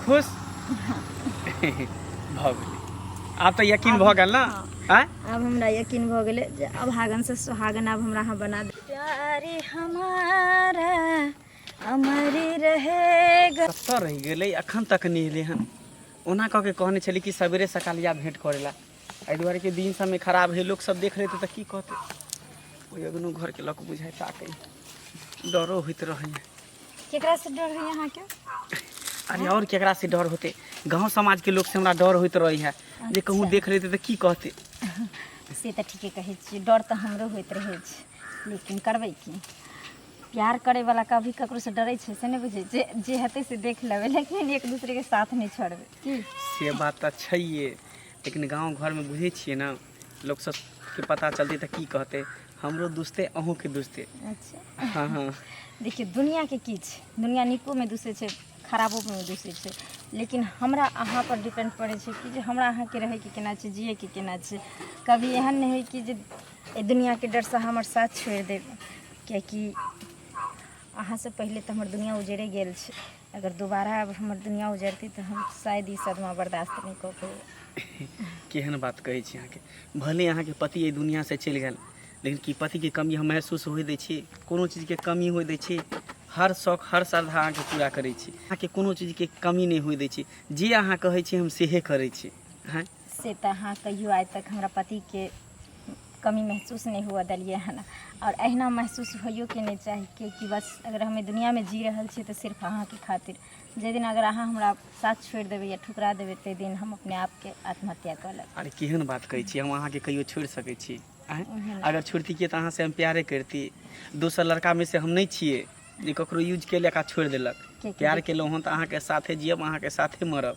खुश भऽ गेलै आब तऽ यकीन भऽ गेल ना आँय अब हमरा यकीन भऽ गेलै जे अब हागन से सुहागन अब हमरा अहाँ बना दे प्यारे हमारा अमर रहेगा कतऽ रहि गेलै अखन तक नहि एलै हन ओना कऽ के कहने छली कि सवेरे सकाल या भेँट करै लए एहि दुआरे कि दिन सबमे खराब है लोक सब देख लेतै तऽ की कहतै ओहि अगनो घरके लऽ कऽ बुझाइ ताकै डरो होइत रहै केकरा से डर है यहाँ के अरे और केकरा से डर होते गांव समाज के लोग से हमरा डर होइत रही है जे कहूँ देख लेते तो की कहते से तऽ ठीके कहै छियै डर तऽ हमरो होइत रहै छै लेकिन करबै की प्यार करैवला कभी ककरोसँ डरै छै से नहि बुझै जे जे हेतै से देख लेबै लेकिन एक दूसरेके साथ नहि छोड़बै की से बात तऽ छैहे लेकिन गाँव घरमे बुझै छियै ने लोक सबके पता चलतै तऽ की कहतै हमरो दुसतै अहूँके दुसतै अच्छा हँ हँ देखियौ दुनिआके की छै दुनिआ नीकोमे दुसै छै खराबोमे दुसै छै लेकिन हमरा अहाँ पर डिपेंड करै छै कि जे हमरा अहाँके रहैके केना छै जियैके केना छै कभी एहन नहि होइ कि जे एहि दुनिआके डरसँ हमर साथ छोड़ि देब किएकि अहाँसँ पहिले तऽ हमर दुनिआ उजड़े गेल छै अगर दोबारा हमर दुनिया उजरती तऽ हम शायद ई सदमा बर्दाश्त नहि कऽ पेबै केहन बात कहै छी अहाँके भले अहाँके पति एहि दुनियासँ चलि गेल लेकिन की पतिके कमी हम महसूस होय दै छी कोनो चीजके कमी होय दै छी हर शौक हर श्रद्धा अहाँके पूरा करै छी अहाँके कोनो चीजके कमी नहि होय दै छी जे अहाँ कहै छी हम सेहे करै छी हँ से तऽ अहाँ कहियो आइ तक हमरा पतिके कमी महसूस नहि हुअ देलियै हन आओर अहिना महसूस होइयोके नहि चाही किएकि बस अगर हमे दुनियाँमे जी रहल छियै तऽ सिर्फ अहाँके खातिर जाहि दिन अगर अहाँ हमरा साथ छोड़ि देबै या ठुकरा देबै ताहि दिन हम अपने आपके आत्महत्या कऽ लेब अरे केहन बात कहै छी हम अहाँके कहियो छोड़ि सकै छी आँय? ओहन अगर छोड़तियै तऽ अहाँसँ हम प्यारे करती दोसर लड़कामे से हम नहि छियै जे ककरो यूज केलक आ छोड़ि देलक किएकि प्यार केलहुँ हँ तऽ अहाँके साथे जियब अहाँके साथे मरब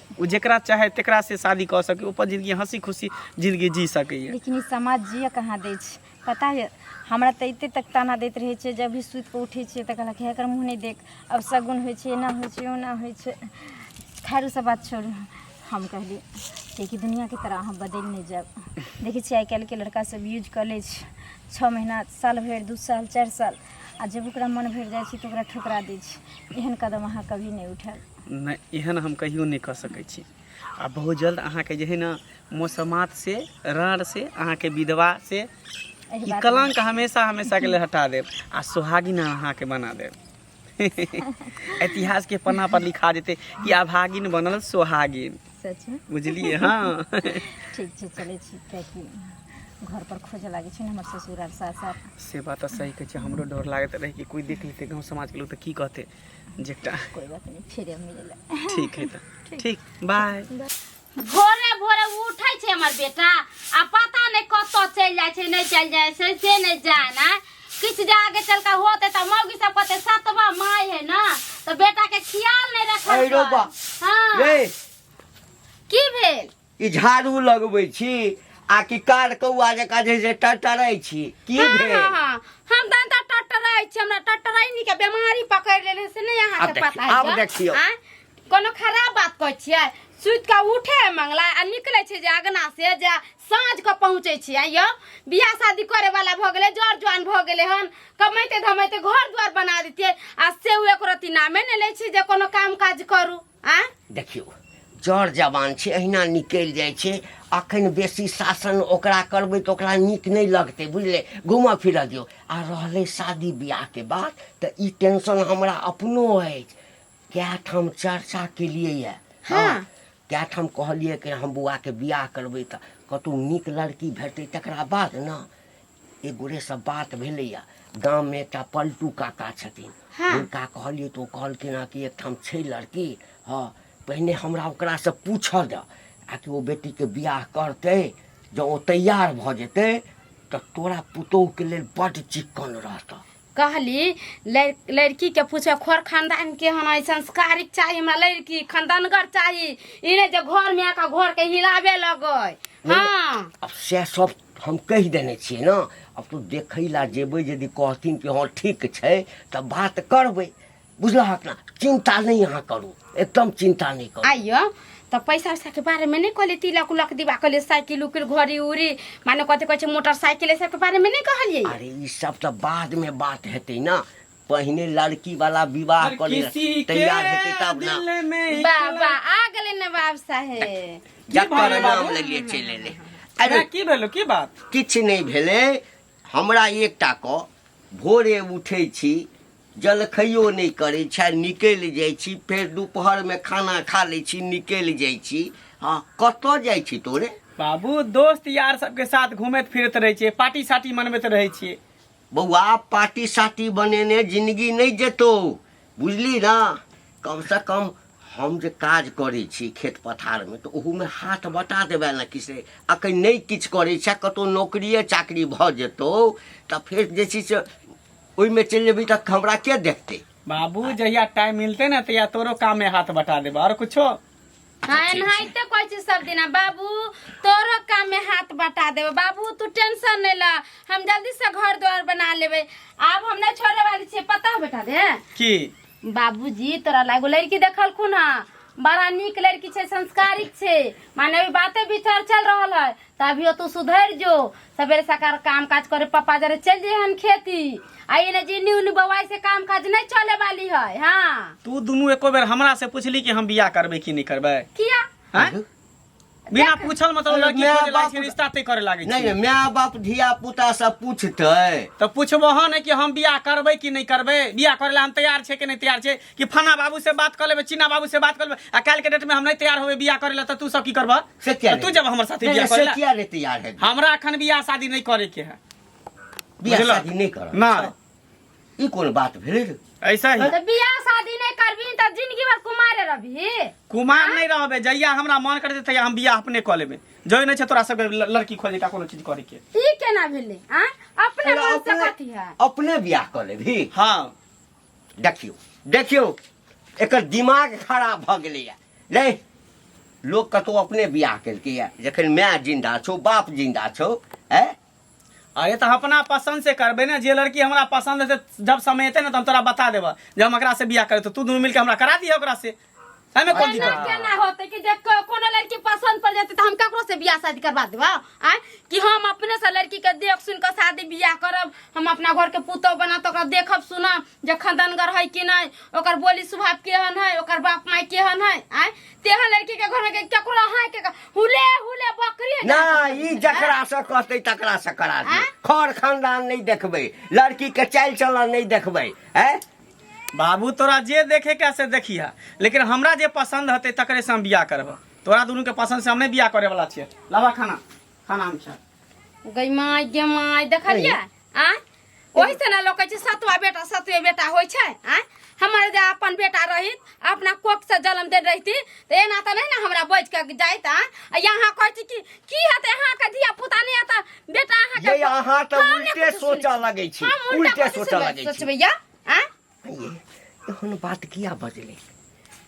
ओ जेकरा चाहे तेकरा से शादी कऽ सकै ओपर जिंदगी हंसी खुशी जिंदगी जी सकैए लेकिन ई समाज जिय कहाँ दै छै पता यऽ हमरा तऽ एते तक ताना दैत रहै छै जब भी सुति कऽ उठै छियै तऽ कहलक हे एकर मुँह नहि देख अब सगुन होइ छै एना होइ छै ओना होइ छै खैर ओ सब बात छोड़ू हम कहली कियाकि दुनियाके तरह अहाँ बदलि नहि जायब देखै छियै आइ काल्हिके लड़का सब यूज कऽ लै छै छओ महीना साल भरि दू साल चारि साल आ जब ओकरा मन भरि जाइ छै तऽ ओकरा ठुकरा दै छै एहन कदम अहाँ कभी नहि उठायब नहि एहन हम कहियो नहि कऽ सकै छी आ बहुत जल्द अहाँके जे है ने मौसमात से राँड़ से अहाँके विधवा से एहि ई बात कलंक हमेशा हमेशा के लिए हटा देब आ सुहागिन अहाँके बना देब इतिहास के पन्ना पर लिखा देते कि अभागिन बनल सुहागिन सच में बुझलिए हाँ ठीक छै चलै छी कियाकि घर पर खोज लागै छै ने हमर ससुर आर सास आर से बात तऽ सही कहै छै हमरो डर लागैत रहै कि कोइ देख लेतै गाँव समाजके लोक तऽ की कहतै जेटा कोई बात नहीं फिर हम मिलेला ठीक है तो ठीक बाय भोरे भोरे उठै छै हमर बेटा आ पता नहि कतऽ चलि जाइ छै नहि चलि जाइ छै से नहि जाना किछु जे आगे चल कऽ होतै तऽ मौगी सब कहतै सतवा माय है ने तऽ बेटा के खियाल नहि रखल अरे रौ बा। हँ रे की भेल ई झाड़ू लगबै छी आ कि कार कौआ जकाँ जे जे टरटरै छी की हाँ, भेल हाँ, हाँ। हम तहन तऽ टटराइ छी हमरा टटराइनी के बीमारी पकड़ि लेले से नहि अहाँ आब के देखियौ, पता आब यऽ? देखियौ। आँय? कोनो खराब बात कहै छियै सुति कऽ उठे है मंगला आ निकलै छै जे अगना से जे साँझ के पहुँचै छी आँय यौ बियाह शादी करे वाला भऽ गेलै जर जुआन भऽ गेलै हन कमैते धमैते घर दुआर बना दितियै आ से ओ एको रत्ती नामे नहि लै छी जे कोनो काम काज करू आ देखियौ जड़ जवान छै अहिना निकलि जाइ छै अखन बेसी शासन ओकरा करबै तऽ ओकरा नीक नहि लगतै बुझले घूमऽ फिरऽ दियौ आ रहलै शादी बियाहके बात तऽ ई टेंशन हमरा अपनो अछि कए ठाम चर्चा केलियै यऽ हँ कए ठाम कहलियै कि हम बौआके बियाह करबै तऽ कतहु नीक लड़की भेटतै तकरा बाद ने एक गोरे सब बात भेलैया गाम में एकटा पलटू काका छथिन हाँ। हुनका कहलियै तऽ ओ कहलखिन हँ कि एकठाम छै लड़की हँ पहिने हमरा ओकरा से पूछऽ दऽ आ कि ओ बेटी के बियाह करतै जँ ओ तैयार भऽ जेतै तऽ तोरा पुतोह के लेल बड्ड चिक्कन रहतऽ कहली लड़- लड़की के पूछे खोर खानदान के हम आई संस्कारिक चाहिए हमरा लड़की खानदानगर चाहिए ई नहीं जे घर में आके घर के हिलावे लगे हाँ अब से सब हम कहि देने छियै ने आब तू देखै लए जेबै यदि कहथिन कि हँ ठीक छै तऽ बात करबै बुझलहक ने चिन्ता नहि अहाँ करू एकदम चिन्ता नहि करू आइयो तऽ पैसा उसाके बारेमे नहि कहलियै तिलक उलक दिबा कहलियै साइकिल उकिल घड़ी उड़ी माने कथी कहै छै मोटरसाइकिल एहि सबके बारेमे नहि कहलियै अरे ई सब तऽ बादमे बात हेतै ने पहिने लड़की वाला विवाह हर कर किसी के तैयार हेतै तब ना दिल में बाबा आ गेलै नवाब साहेब की जकर भेलै नाम बाबू? लेलिए चलि एलै अरे अरे की भेलो की बात किछु नहि भेलै हमरा एकटा कऽ भोरे उठै छी जलखैयो नहि करै छी आ निकलि जाइ छी फेर दुपहरमे खाना खा लै छी निकलि जाइ छी हँ कतऽ जाइ छी तोरे बाबू दोस्त यार सबके साथ घूमैत फिरैत रहै छियै पार्टी सार्टी मनबैत रहै छियै बौआ पार्टी साटी बनेने जिंदगी नहीं जेतो बुझली ना कम से कम हम जे काज करे छी खेत पथार में तो ओहू में हाथ बटा देबे ना किसे अखन नहीं किछ करे छे कतो नौकरिए चाकरी भ जेतो तो फिर जे छी से ओहि में चल जेबी तक हमरा के देखते बाबू जहिया टाइम मिलते ना तहिया तोरो काम में हाथ बटा देबे और कुछो हाँ ठीक छै। एनाहिते कहै छी सब दिना बाबू तोरो काम में हाथ बटा देबे बाबू तू टेंशन नहीं ल हम जल्दी से घर द्वार बना लेबे आब हम नहीं छोड़े वाली छिए पता है बेटा दे की बाबूजी तोरा लागो लड़की देखलखुन हँ बड़ा नीक लड़की छै संस्कारिक छै माने अभी बाते विचार चल रहल है तभियो तू सुधर जो सवेरे सकार काम काज करे पापा जरे चल जे हम खेती आई ने जिन्नी उन्नी बवाई से काम काज नहीं चले वाली है हाँ तू दुनू एको बेर हमरा से पूछली कि हम बियाह करबै कि नहि करबै किया हैं? बिना पूछल मतलब अरे लड़की माय खोजे लागै बाप- छै रिश्ता तय करे लागै नहि छै नहि माय बाप धिया पुता सब पूछतै तऽ पूछबह ने कि हम बियाह करबै कि नहि करबै बियाह करै लए हम तैयार छै कि नहि तैयार छै कि फना बाबू से बात कर लेबे चीना बाबू से बात कर लेबे आ काल के डेट में हम नहीं तैयार होबे बियाह करे ला त तू सब की करबा से क्या तू जब हमर साथे बियाह करे ला क्या रे तैयार है हमरा अखन बियाह शादी नहीं करे के है बियाह बुझलक? शादी नहीं कर ना ई कोन बात भेले रे ऐसा ही तो बियाह शादी नहीं करबी तो जिंदगी भर कुमारे रहबी कुमार नहीं रहबे जहिया हमरा मन करते तहिया हम बियाह अपने कऽ लेबे जय नहीं छै तोरा सब लड़की खोजे का कोनो चीज करे के ई केना भेले आ अपने अरे मन से अपने कथी है अपने बियाह कर लेबी हाँ देखियौ देखियौ एकर दिमाग खराब भऽ गेलैए नहि लोक कतहु अपने बियाह केलकैए जखन माय जिन्दा छौ बाप जिन्दा छौ है अरे तऽ अपना पसन्द से करबै ने जे लड़की हमरा पसन्द हेतै जब समय एतै ने तऽ हम तोरा बता देबह जे हम एकरासँ बियाह करबै तऽ तू दुनू मिलके हमरा करा दिह ओकरासँ हमें कौन दिक्कत एना केना होते कि जे को- कोनो लड़की पसंद पड़ जाते तो हम ककरो से बियाह शादी करवा देबो आ कि हम अपने से लड़की के देख सुन के शादी बियाह करब हम अपना घर के पुतौ बना तो ओकरा देखब सुनब जे खंदनगर है कि नहीं ओकर बोली स्वभाव केहन है ओकर बाप माय केहन है आ तेहन लड़की के घर में के- केकरो हाय के हुले हुले बकरी है ना ई जकरा से कहते तकरा से करा दी आँय? खर खानदान नहीं देखबै लड़की के चाल चलन नहीं देखबै हैं बाबू तोरा जे देखे के से देखिह लेकिन हमरा जे पसंद हते तकरे से हम बियाह करब तोरा दुनू के पसंद से हम नहीं बियाह करे वाला छिए लावा खाना खाना हम खा गई माय गे माय देखलिए आ ओही से ना लोग कहै छै सतवा बेटा सतवे बेटा होइ छै आ हमारे जे अपन बेटा रही अपना कोख से जन्म दे रहती तो एना तो नहीं ना हमरा बैठ के जाइत आ आ यहाँ कहती कि की हते यहाँ के धिया पुता नहीं आता बेटा यहाँ के ये अहाँ तऽ हम ने उल्टे कुछ सोचऽ सुनबै। लगै छी हम उल्टा उल्टे कथी सोचऽ सुनबै? लगै छी सोचबै या आ ये एहन बात किया बजले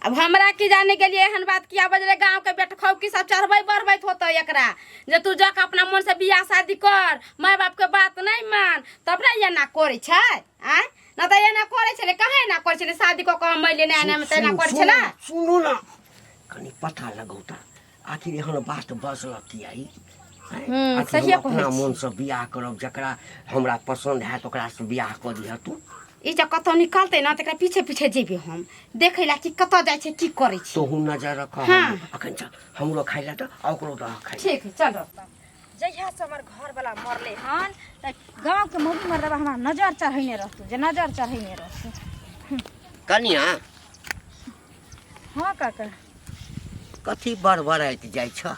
अब हमरा की जाने के लिए एहन बात किया बजले गांव के बेट खौ की सब चढ़बै बढ़बैत होतो एकरा जे तू जाके अपना मन से बियाह शादी कर माय बाप के बात नहीं मान तब ना ये ना करे छै आ ना त एना करे छले काहे एना करे छले शादी क के हम अइले ना एना में त एना करे छला सुनू ना कनी पता लगौता आखिर एहन बात बजल की आई हैं? हम्म, आखिर सहिए हम अपना कहै छी। मन से बियाह करब जकरा हमरा पसंद हैत ओकरा से बियाह कऽ दिह तू ई जे कतौ निकलते ना तकरा पीछे पीछे जेबे हम देखे ला कि कतौ जाय छै की करे छै तोहू नजर रख हाँ। अखन चल हमरो खाइ लए तऽ आ ओकरो दह खाइ ठीक है चलो जहिया से हमर घर वाला मरले हन त गांव के मौगी मर्दबा हमरा नजर चढ़ैने रहतू जे नजर चढ़ैने रहतू कनिया हाँ काका कथी बड़बड़ाइत जाइ छ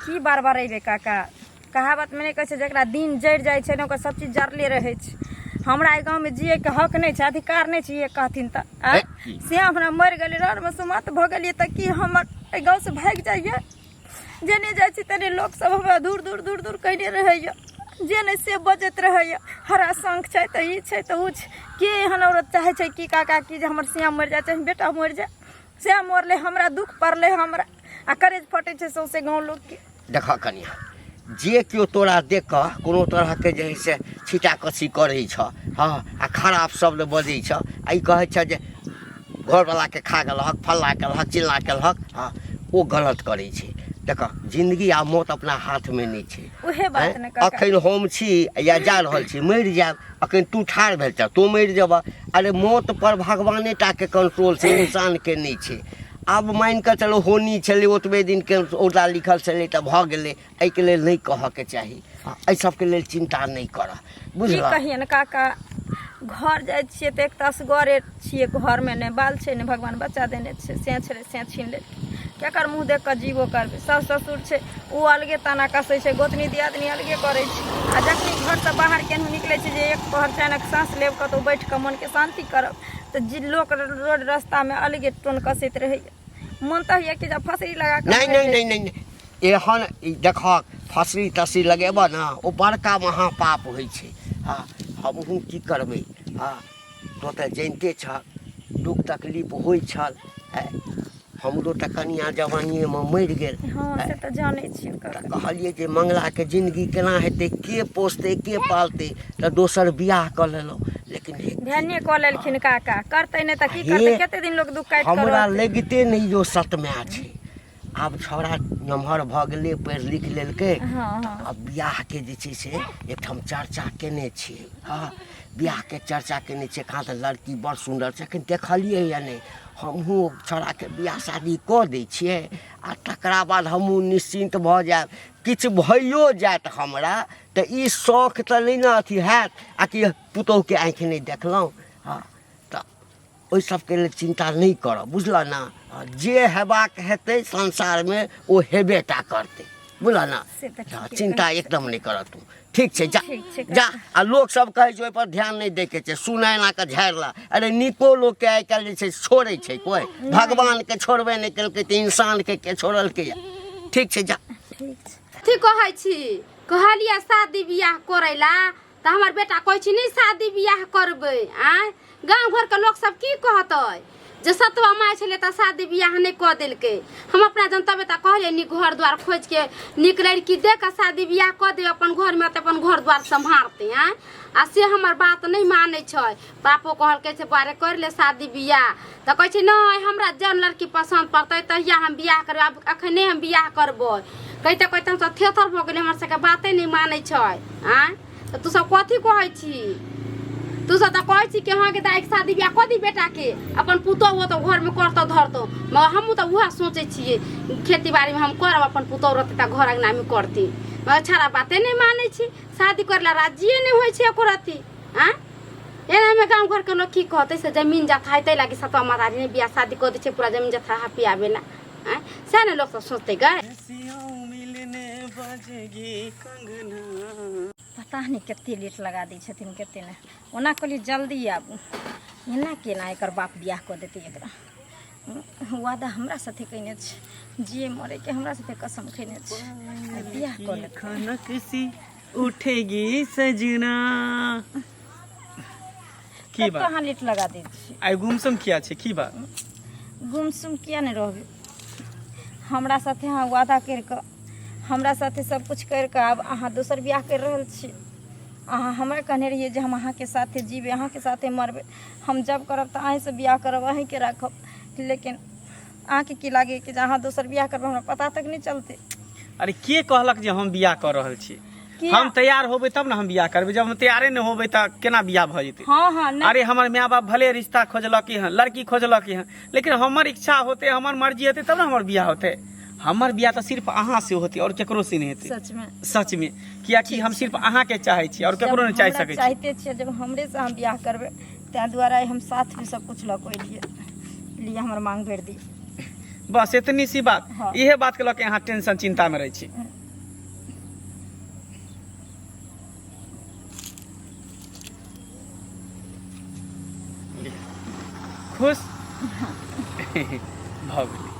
की बार बार अइबे काका कहावत में नहीं कहै छै जकरा दिन जरि जाइ छै ने ओकर सब चीज जरले रहै छै हमरा एहि गाँवमे जियैके हक नहि छै अधिकार नहि छै ये कहथिन तऽ आँय? हे, की? से हमरा मरि गेलै रौदमे सुमत भऽ गेलियै तऽ की हमर एहि गाँवसँ भागि जाइए जेने जाइ छी तेने लोक सब हमरा दूर दूर दूर दूर कहने रहैया जे नहि से बजैत रहैया हरा शंख छै तऽ ई छै तऽ ओ छै के एहन औरत चाहे छै कि काका की जे हमर सिया मरि जाए चाहे बेटा मरि जाए सिया मरलै हमरा दुख पड़लै हमरा आ करेज फटै छै सौंसे गाँव लोकके देख कनिया जे केओ तोरा देख कऽ कोनो तरहके जे है से छीटा कसी करै छ हँ आ खराब शब्द बजै छ आ ई कहै छ जे घरवलाके खा गेलहक फल्ला केलहक चिल्ला केलहक आ ओ गलत करै छै देख जिंदगी आ मौत अपना हाथमे नहि छै उहे बात आँय? ने काका अखन हम छी या जा रहल छी मरि जायब अखन तू ठाढ़ भेल छह तू मरि जेबह अरे मौत पर भगवाने टा के कंट्रोल छै इंसान के नहि छै आब मानि कऽ चलो होनी छलै ओतबे दिन के औदा लिखल छलै तऽ भऽ गेलै एहिके लेल नहि कहऽके चाही आ एहि सबके लेल चिन्ता नहि करऽ की बुझलऽ कहियन काका घर जाइ छियै तऽ एक तऽ असगरे छियै घरमे नहि बाल छै नहि भगवान बच्चा देने छै सें छलै सें छीन लेलकै केकर मुँह देख कऽ जीवो करबै सास ससुर छै ओ अलगे ताना कसै छै गोतनी दियादनी अलगे करै छै आ जखनी घरसँ बाहर केनहु निकलै छै जे एक पहर चानक साँस लेब कतहु बैठ कऽ मनके शान्ति करब तऽ जी लोक रोड रस्तामे अलगे टोन कसैत रहैया मोन तऽ होइया कि जब फसरी लगा कऽ नहि मरि नहि जाय। नहि नहि नहि एहन देखहक फसरी तसरी लगेबऽ ने ओ बड़का महापाप होइ छै आ हमहूँ की करबै आ तो तऽ जनिते छह दुख तकलीफ होइ छल आँय, हमरो तऽ कनिया जवानिएमे मरि गेल हँ से तऽ जानै छियै ओकर तऽ कहलियै जे मंगलाके जिन्दगी केना हेतै के पोसतै के पालतै तऽ दोसर बियाह कऽ लेलहुँ लेकिन हे- भेने कऽ लेलखिन काका करतै नहि तऽ की हे, करतै कते दिन लोक दुख काटि कऽ हमरा रहतै? लगिते नहि जो सतमा छै आब छौड़ा नमहर भऽ गेलै पढ़ि लिख लेलकै हँ हँ आ बियाहके जे छै से एकठाम चर्चा केने छी हँ बियाहके चर्चा केने छी कहाँ तऽ लड़की बड़ सुन्दर छै एखन देखलियै या नहि हमहूँ छौड़ाके बियाह शादी कऽ दै छियै आ तकरा बाद हमहूँ निश्चिन्त भऽ जायब किछु भइयो जायत हमरा तऽ ई शौक तऽ नहि ने अथी हैत आ कि पुतोहुके आँखि नहि देखलहुँ हँ तऽ ओहि सबके लेल चिन्ता नहि करऽ बुझलऽ ने आ जे हेबाक हेतै संसारमे ओ हेबे टा करतै बुझलऽ ने से तऽ ठीके हँ, चिन्ता एकदम नहि करऽ तू ठीक छै जा ठीक छै, जा आ लोक सब कहै छै ओहिपर ध्यान नहि दैके छै सुनै एना कऽ झाड़ि ला अरे नीको लोकके आइ काल्हि जे छै से छोड़ै छै कोइ भगवानके छोड़बे नहि केलकै तऽ इंसानके के छोड़लकै यऽ ठीक छै जा ठीक छै ठीक कहै छी कहलियै शादी बियाह करै ला तऽ हमर बेटा कहै छी नहि शादी बियाह करबै आँय गाँव घरके लोकसभ की कहतै जे सतवा माय छलै तऽ शादी बियाह नहि कऽ देलकै हम अपना जन तबे तऽ कहलियै नीक घर दुआर खोजि के नीक लड़की दे कऽ शादी बियाह कऽ दे अपन घरमे तऽ अपन घर दुआर सम्हारतै आँय आ से हमर बात नहि मानै छै बापो कहलकै से बारे कर ले शादी बियाह तऽ कहै छै नहि हमरा जौन लड़की पसन्द पड़तै तहिया हम बियाह करबै आब अखने हम बियाह करबै कहिते कहिते हम सब थेथर भऽ गेलै हमर सबके बाते नहि मानै छै आँय तऽ तू सब कथी कहै छी तू सब तऽ कहै छी कि अहाँके दाइके शादी बियाह कऽ दी बेटाके अपन पुतहु हो तऽ घरमे करतौ धरतौ मगर हमहूँ तऽ उएह सोचै छियै खेती बाड़ीमे हम करब अपन पुतहु रहतै तऽ घर अङ्गनामे करती मगर छड़ा बाते नहि मानै छी शादी करै लए राजिए नहि होइ छै एको रत्ती आँय एनामे गाँव घरके लोक की कहतै से जमीन जथा हेतै लागी सतवा माता जी बियाह शादी कऽ दै छै पूरा जमीन जथा हपी आबे ला आँय सएह ने लोकसभ सोचतै गए पता नहि कते लेट लगा दै छथिन कते नहि ओना कहलियै जल्दी आबू एना केना एकर बाप बियाह कऽ देतै एकरा वादा हमरा साथे कयने छै जे मरेके हमरा साथे कसम खयने छै बियाह कऽ लेतै उठेगी सजना की तब तो बात अहाँ लेट लगा दै छी आइ गुमसुम किया छै की बात गुमसुम किया नहि रहबै हमरा साथे अहाँ वादा करि कऽ हमरा साथे सब कुछ करि कऽ आब अहाँ दोसर बियाह करि रहल छी अहाँ हमरा कहने रहियै जे हम अहाँके साथे जीबै अहाँके साथे मरबै हम जब करब तऽ अहीँसँ बियाह करब अहीँके राखब लेकिन अहाँके की लागैए कि जे अहाँ दोसर बियाह करबै हमरा पता तक नहि चलतै अरे के कहलक जे हम बियाह कऽ रहल छी किया? हम तैयार होबै तब ने हम बियाह करबै जब हम तैयारे नहि होबै तऽ केना बियाह भऽ जेतै हँ हँ नहि अरे हमर माय बाप भले रिश्ता खोजलक हँ लड़की खोजलक हँ लेकिन हमर इच्छा होते हमर मर्जी हेतै तब ने हमर बियाह होतै हमर बियाह तऽ सिर्फ अहाँ से होतै और केकरो से नहि हेतै सचमे सच में कियाकि हम सिर्फ अहाँ के चाहे छी और केकरो नहि चाहे हमरा सकै छी चाहते छियै जब हमरे से अहाँ बियाह करबै ताहि दुआरे हम साथमे सब कुछ लऽ कऽ एलियै लिए हमर मांग भरि दी बस इतनी सी बात हाँ। इहे बात के लऽ के अहाँ टेंशन चिंता में रहे छी खुश भऽ गेली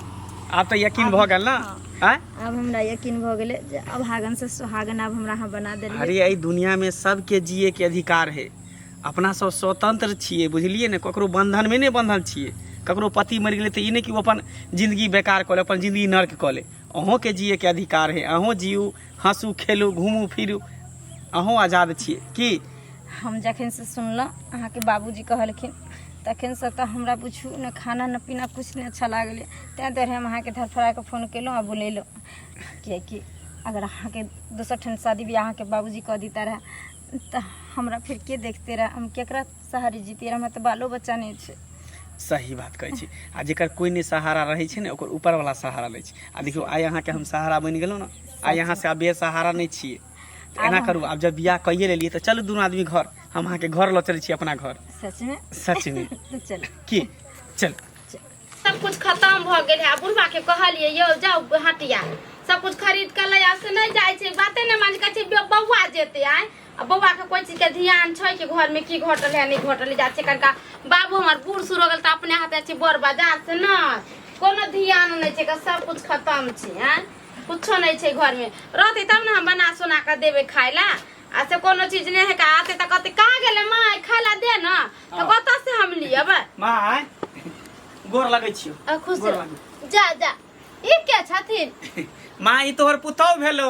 आब तऽ यकीन भऽ गेल ना आँय? अब हमरा यकीन भऽ गेलै जे अब हागन से सुहागन अब हमरा अहाँ बना देलियै अरे एहि दुनिया में सबके जिए के अधिकार है अपना सब स्वतंत्र छियै बुझलियै ने ककरो बंधन में नहीं बंधल छियै ककरो पति मर गए तो ई नहीं कि अपन जिंदगी बेकार कऽ ले अपन जिंदगी नर्क कऽ ले अहूँ के जिये के अधिकार है अहूँ जियू हंसू खेलू घूमू फिरू अहूँ आजाद छियै की हम जखन से सुनलहुँ अहाँके बाबूजी कहलखिन तखन से तऽ हमरा बुझू ने खाना ने पीना कुछ नहि अच्छा लागलै ताहि दुआरे हम अहाँके धरफड़ा के फोन केलहुँ आ बुलेलहुँ किएकि अगर अहाँके दोसर ठाम शादी बियाह अहाँके बाबूजी कऽ दिता रहए तऽ हमरा फिर के देखते रहे हम केकरा सहारे जीते रहे हमरा तऽ बालो बच्चा नहीं छै सही बात कहै छी आ जेकर कोई ने सहारा रहै छै ने ओकर ऊपर वाला सहारा लै छै आ देखियौ आइ अहाँके हम सहारा बनि गेलहुँ ने आइ अहाँ से आब सहारा नहि छियै तऽ एना करू आब जब बियाह कहिए लेलियै तऽ चलू दुनू आदमी घर हम अहाँके घर लऽ चलै छी अपना घर सच में सच में चल की चल सब कुछ खत्म भ गेल है बुढ़वा के कहलिए यो जाओ हटिया सब कुछ खरीद के ले आ से नहीं जाए छे बाते नहीं मान के बउआ जेते आए आ बउआ के कोई चीज के ध्यान छै कि घर में की घटल है नहीं घटल जा छे कनका बाबू हमर बूढ़ सुर हो गेल त अपने हाथ अछि बड़ बाजार से न कोनो ध्यान नहीं छे सब कुछ खत्म छे हैं कुछो नहीं छे घर में रहते तब ना हम बना सुना के देवे खाए ला आ से कोनो चीज नहीं है का आते त कहते कहाँ गेले माय खाए ला दे ना तो कतऽ से हम लिए बा माय गोर लगै छियो आ खुश गोर रह। लगै जा जा ई के छथिन माय ई तोहर पुतौ भेलो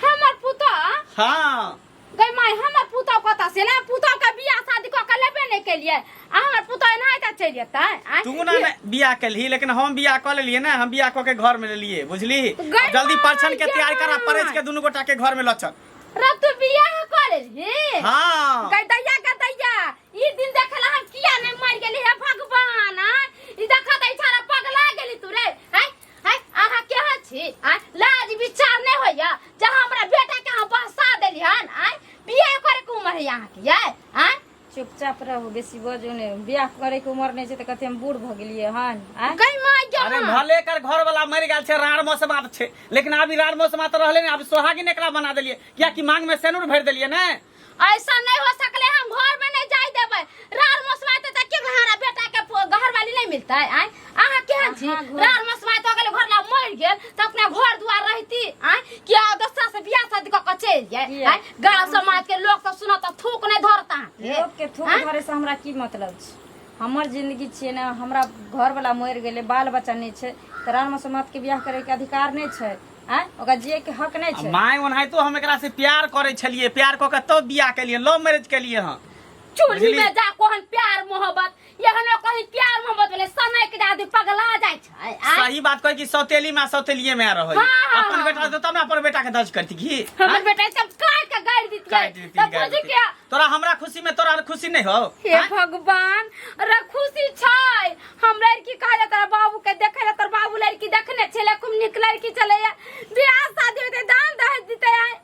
हमर पुता हाँ गई माय हमर पुता कतऽ से ना पुता के बियाह शादी कऽ के लेबे नहीं केलिए आ हमर पुता एनाही तऽ चलि जेतै आँय? तू ना ना बियाह कलही लेकिन हम बियाह कऽ लेलिए ना हम बियाह कऽ के घर में लेलिए बुझली गई जल्दी माय, परछन के तैयार करा गई परछ के माय। दुनू गोटा के घर में लचक रब तू बियाह करे हे हाँ गदैया गदैया ई दिन देखला हम किया ने मर गेली हे भगवान आ? ई देखा दै छारा पगला गेली तू रे हाय हाय आहा के ह छी आ लाज विचार ने होया जहां हमरा बेटा के हम बसा देली हन आ बियाह करे के उम्र है यहाँ के ये आ चुपचाप रहू बेसी बजू ने बियाह करे के उम्र नहीं छै त कते हम बूढ़ भ गेलिए हन आय कहीं मार जाओ अरे ना भले कर घर वाला मर गया छे रार मौसम आब छे लेकिन अभी रार मौसम तो रहले ने अब सोहागिन एकरा बना देलिए किया कि मांग में सेनुर भर देलिए ने ऐसा नहीं हो सकले हम घर में नहीं जाए देबे रार मौसम आते त के घरा बेटा के घर वाली नहीं मिलता है आय अहाँ केहन छी अहाँ घर- रार मसमाय तो गेल घर ला मर गेल त अपना घर दुआर रहती आय कि आ दोसरा से बियाह शादी क के चल जाय किया? आय गांव समाज के लोग त सुनत त थूक नहीं धरता लोग के थूक आँय? धरे से हमरा की मतलब छै हमर जिंदगी छियै ने हमरा घर वाला मरि गेलै बाल बच्चा नहि छै तऽ राम समाज के बियाह करे के अधिकार नहि छै आय ओकरा जिये के हक नहि छै माय ओनाहितो हम एकरा से प्यार करे छलिए प्यार क के तब बियाह केलिए लव मैरिज केलिए हँ चूल्ही बुझलियै? में जा कोहन प्यार मोहब्बत ये हमरा कहीं प्यार मोहब्बत वाले समय के दादी पगला जाय छै आ सही बात कहे कि सौतेली में सौतेलिए में रह हाँ, हाँ, अपन हाँ, बेटा हाँ। तो तब ना अपन बेटा के दर्ज करती की हमर बेटा सब काट के गाड़ दी काट दी, तब काट बुझी दी। के तोरा हमरा खुशी में तोरा खुशी नहीं हो हे हाँ? भगवान रे खुशी छै हम लड़की कहले तोरा बाबू के देखे ले तोर बाबू लड़की देखने छले खूब निक लड़की छले बियाह शादी होते दान दहेज दिते आय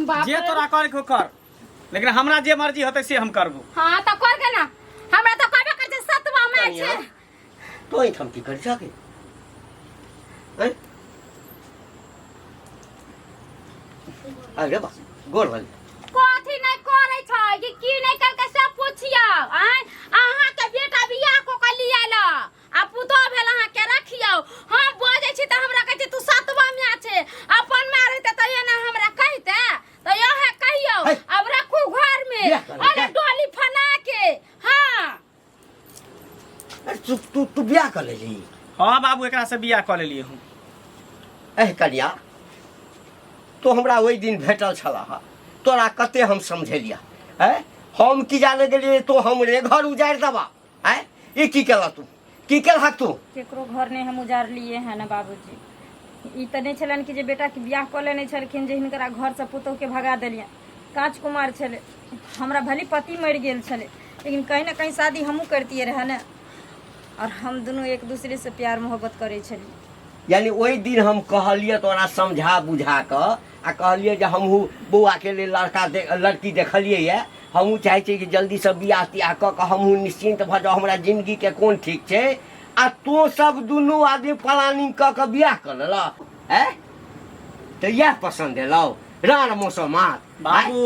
बाप जे रे। तोरा करे के हो कर लेकिन हमरा जे मर्जी होते से हम करबो हाँ तो कर के ना हमरा तो कहबे कर जे सतवा में कनिया। छे तो ही थमती कर जाके हैं? अरे बा गोर वाली कथी नहीं करे छै कि की नहीं करके सब पूछियो आय अहाँ के बेटा बियाह को के लिए ला आ पुतोह भेल अहाँ केना खियाओ हम बजै छी तऽ हमरा कहै छै तू सातवा माय छै अपन माय रहिते तऽ एना हमरा कहिते तऽ यहे कहियो है। अब रखू घर में बियाह करू, अरे बियाह। डोली फना के हाँ अरे तू तू तू बियाह कर लेली हाँ बाबू एकरा से बियाह कऽ लेलियै हम एह कनिया तो हमरा ओहि दिन भेटल छला हा तोरा कते हम समझेलिया है हम की जाने गेलियै तो हमरे घर उजारि देबा आय ई की केला तू की केलहक तू केकरो घर नहि हम उजाड़लिए हँ ने बाबूजी ई तऽ नहि छलनि कि जे बेटाके बियाह कऽ लेने छलखिन जे हिनकरा घरसँ पुतहुके भगा देलियनि काँच कुमार छलै हमरा भली पति मरि गेल छलै लेकिन कहीं ने कहीं शादी हमहूँ करतियै रहए ने आओर हम दुनू एक दूसरेसँ प्यार मोहब्बत करै छलियै यानी ओहि दिन हम कहलियै तोरा समझा बुझा कऽ आ कहलियै जे हमहूँ बौआके लेल लड़का दे लड़की देखलियै यए हमहूँ चाहै छियै कि जल्दीसँ बियाह तियाह कऽ कऽ हमहूँ निश्चिन्त भऽ जाउ हमरा जिनगीके कोन ठीक छै आ तो सब दुनू आदमी प्लानिंग कऽ कऽ बियाह कऽ लेलक आँय तऽ इएह पसन्द एलौ राण मौसम मात बाबू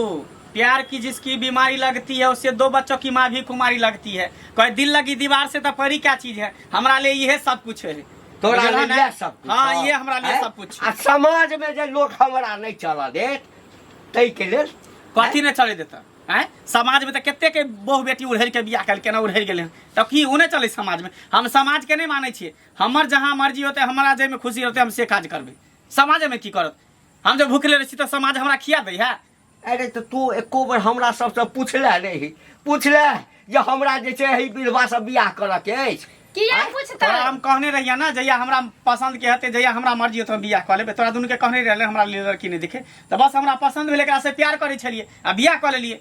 प्यार की जिसकी बीमारी लगती है उससे दो बच्चों की माँ भी कुमारी लगती है कहे दिल लगी दीवार से तो परी क्या चीज है हमारा लिए यह सब कुछ है तोरा बुझलहन लेल है? इएह सब कुछ हाँ, हँ। ये हमरा लेल हैं? सब कुछ। आ समाज में जे लोग हमरा नहीं चलऽ देत तै के लेल कथी नहि चले देता आँय समाज में तऽ कते के बहु बेटी उड़हरि के बियाह कल केना उड़हरि गेलै तऽ की ओ नहि चलै समाज में हम समाज के नहि मानै छियै हमर जहाँ मर्जी होतै हमरा जाहिमे खुशी होतै हम से काज करबै समाज में की करत हम जब भूखले रहै छी तऽ समाज हमरा खिया दै है अरे तऽ तू एको बेर हमरा सबसँ पुछले रही पुछले जे हमरा जे छै एहि विधवासँ बियाह करऽके अछि किया आँय? पूछतै तोरा हम कहने रहिया ना जहिया हमरा पसंद के हते जहिया हमरा मर्जी होतो हम बियाह क लेबे तोरा दुनू के कहने रहले हमरा लिए लड़की नहीं देखे तो बस हमरा पसंद भेल एकरा से प्यार करे छलिए आ बियाह क लेलिए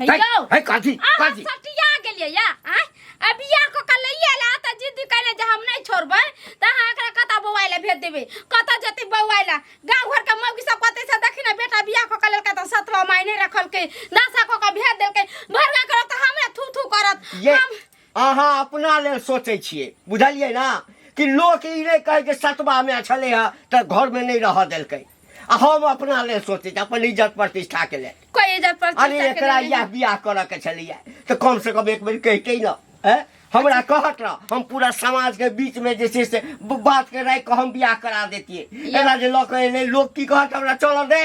हे है यौ है काजी अहाँ काजी सटिया गेलियै या आँय? आ बियाह कऽ के लैये ला तऽ जिद कयने जे हम नहि छोड़बै तऽ अहाँ एकरा कतऽ बौआइ लए भेज देबै कतऽ जेतै बौआइ लए गाँव घरके मौगी सब कहतै से देखी ने बेटा बियाह कऽ के लेलकै तऽ सतवा माय नहि रखलकै नाशा कऽ के भेज देलकै भरि गाँव करत तऽ हमरा थू थू करत ये हम अहाँ अपना लेल सोचै छियै बुझलियै ने कि लोक ई नहि कहै जे सतबामे छलै हँ तऽ घरमे नहि रहऽ देलकै आ हम अपना लेल सोचै छी अपन इज्जत प्रतिष्ठाके लेल कोई इज्जत पर अरे चर्चा एकरा करेला इएह नहीं। बियाह करऽ के छलैया तऽ कम से कम एक बेर कहिते न हैं? हमरा कहत रह हम पूरा समाज के बीच में जे छै से ब- बात के राखि के हम बियाह करा देतियै या- एना जे लऽ के एलै लोग की कहत हमरा चलऽ दे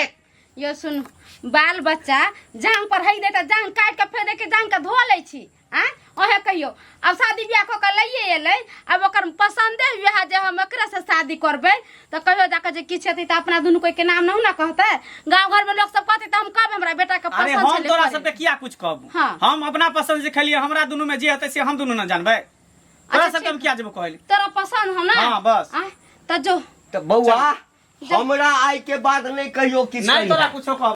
यो सुन बाल बच्चा जान पर है दे तऽ जान काट के फेर के जान के धो लै छी आ ओहे कहियो अब शादी ब्याह कऽ के लइए एलै अब ओकर पसंदे हुए है जे हम एकरे से शादी करबै तऽ कहियो जाके जे किछु हेतै तऽ अपना दुनू कोई के नाम नहि ने कहतै गाँव घर में लोग सब कहतै तऽ हम कहबै हमरा बेटा के अरे पसंद हम छलै तोरा करे। सबके किया कुछ कहब हाँ। हम अपना पसंद से खेलिए हमरा दुनू में जे हेतै से हम दुनू ना जानबै तोरा अच्छा, सबके हम ठीक। किया जेबो कहल तोरा पसंद हो ना हाँ, बस। आ, तऽ जो तो बउआ हमरा आय के बाद नहीं कहियो किस नहीं तोरा कुछो कहब